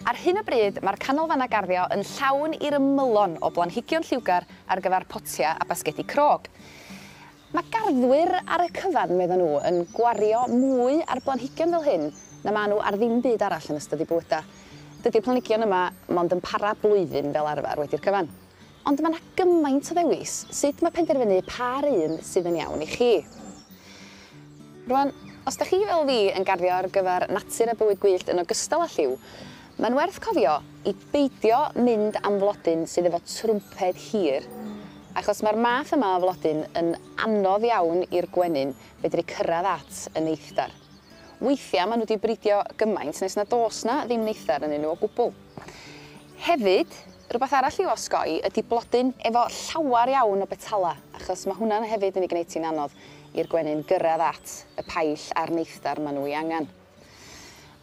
Ar hyn o bryd mae'r canolfannau garddio yn llawn i'r ymylon o blanhigion lliwgar ar gyfer potiau a basgedi crog. Mae garddwyr ar y cyfan, meddon nhw, yn gwario mwy ar blanhigion fel hyn na maen nhw ar ddim byd arall yn ystod eu bywydau. Dydy'r planhigion yma mond yn para blwyddyn fel arfer wedi'r cyfan. Ond mae 'na gymaint o ddewis, sut ma' penderfynu pa 'r un sydd yn iawn i chi? Rŵan, os 'dach chi fel fi yn garddio ar gyfer natur a bywyd gwyllt yn ogystal â lliw, mae'n werth cofio i beidio mynd am flodyn sydd efo trwmped hir, achos mae'r math yma o flodyn yn anodd iawn i'r gwenyn fedru cyrraedd at y neithdar. Weithiau maen nhw 'di bridio gymaint nes nad oes 'na ddim neithdar ynnyn nhw o gwbl. Hefyd, rhywbeth arall i'w osgoi ydi blodyn efo llawer iawn o betalau, achos mae hwnna'n hefyd yn ei gwneud hi'n anodd i'r gwenyn gyrraedd at y paill a'r neithdar maen nhw ei angen.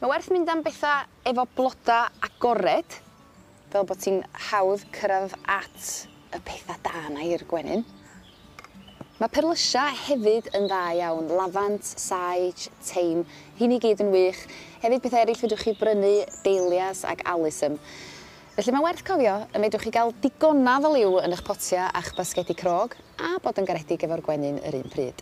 Mae werth mynd am bethau efo blodau agored, fel bod ti'n hawdd cyrraedd at y pethau da 'na i'r gwenyn. Mae perlysia hefyd yn dda iawn, lafant, sage, thyme, rheiny gyd yn wych. Hefyd pethau eraill fedrwch chi brynu, dahlias ac alyssum. Felly mae'n werth cofio y medrwch chi gael digonaf o liw yn eich potiau a'ch basgedi crog, a bod yn garedig efo'r gwenyn yr un pryd.